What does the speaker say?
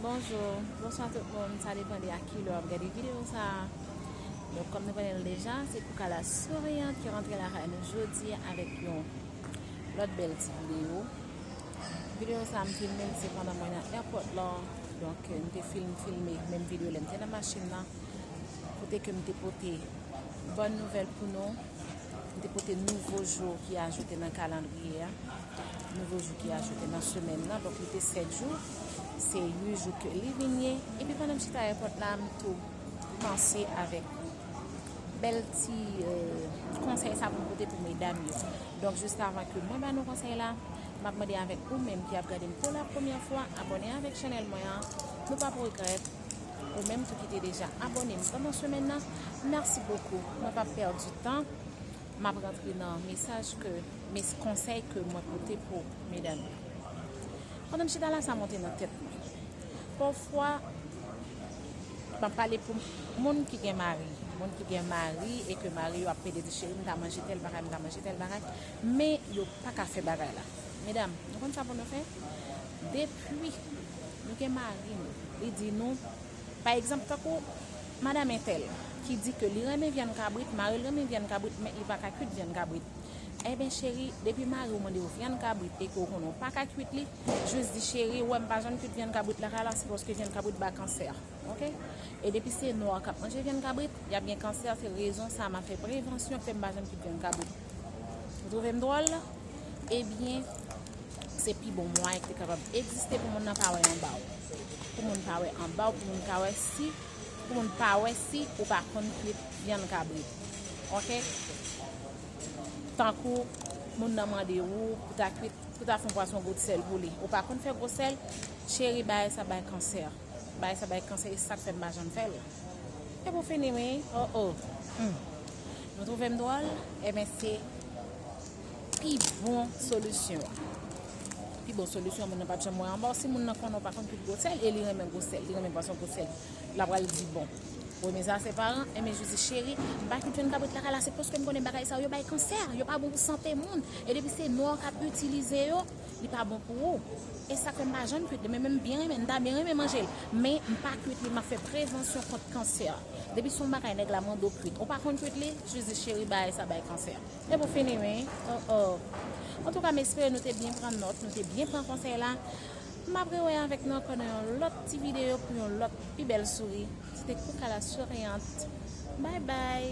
Bonjou, bonswa tout moun, sa depan de a ki lè w ap gade videyo sa a. Donk, kòm nou konnen l deja, se Koukala Souriant ki rantre lakay nou jodi a avèk yon lòt bèl ti videyo. Videyo sa a m filme l se pandan mwen nan èpòt la, donk m te fin filme menm videyo lè m te nan machin nan, kote ke m te pote bòn nouvèl pou nou, m te pote nouvo jou ki ajoute nan kalandriye a. Nouvo jou ki ajoute nan semèn nan, donk li te 7 jou, se 8 jou ke li vin ye. Epi pandan m chita èpòt la, m tou panse avèk bèl ti konsèy sa pou m pote pou medam yo. Donk jiskavan ke mwen ba nou konsèy la, m ap mande avèk ou menm ki ap gade m pou la premyè fwa, abòne avèk channel mwen an, nou pap regrèt. Ou menm tou ki te deja abòne m pandan semèn nan, mèsi bokou. Mwen pap pèdi tan Map rantre nan mesaj ke mes konsèy ke mwen pote pou medam yo. Pandan m chita la sa monte nan tèt mwen. Pafwa map pale pou moun ki gen mari, moun ki gen mari e ke mari yo ap pede di cheri m ta manje tèl bagay, m ta manje tèl bagay, men yo paka fè bagay la. Medam, nou konn sa pou nou fè? Depi nou gen mari nou, li di nou, pa egzanp tankou. Madam entèl, ki di ke li renmen vyann kabrit, mari l renmen vyann kabrit men li pa ka kuit vyann kabrit. Enben cheri, depi mari w mande w vyann kabrit e ke w konnen w pa ka kuit li, jis di cheri, wè m pa janm kuit vyann kabrit lakay la, se paske vyann kabrit bay kansè. Ok? E depi se nwa k ap manje vyann kabrit, y ap gen kansè, se rezon sa a m ap fè prevansyon ke m pa janm kuit vyann kabrit. Ou twouve m dwòl? Ebyen. Se pi bon mwayen ki te kapab egziste pou moun nan pa wè anba w. Pou moun pa wè anba w, pou moun ka wè si, pou moun pa wè si ou pa konn kwit vyann kabrit. Ok? Tankou moun nan mande ou pou ta kwit, pou ta fon pwason gout sèl pou li. Ou pa konn fè gwo sèl, cheri bagay sa bay kansè. Bagay sa bay kansè e sak fè m pa janm fè l. E pou fini wi, oh oh, humm. Nou twouve m dwòl? Eben se. Pi bon solisyon an. Pi bon solisyon an moun nan pap janm wè anba w si moun nan konnen w pa konn kout gwo sèl e li renmen gwo sèl, li renmen pwason gwo sèl la pral di bon premye sa se paran enben jou di cheri m pa kit jwenn kabrit kaka la se paske m konnen bagay sa yo yo bay kansè yo pa bon pou sante moun e depi se nwa w kap itilize yo li pa bon pou ou e sak fè m pa janm kwit li men m byen renmen m ta byen renmen manje l men m pa kwit li map fè prevansyon kont kansè depi son bagay nèg la mande w kwit ou pa konn kwit li jou di cheri bagay sa bay kansè. Se pou fini wi oh oh. Antouka m espere nou te byen pran nòt, nou te byen pran konsèy la. M ap rewè avèk nou ankò nan yon lòt ti videyo pou yon lòt pi bèl souri. Se te Kouka la souriant. Bye bye.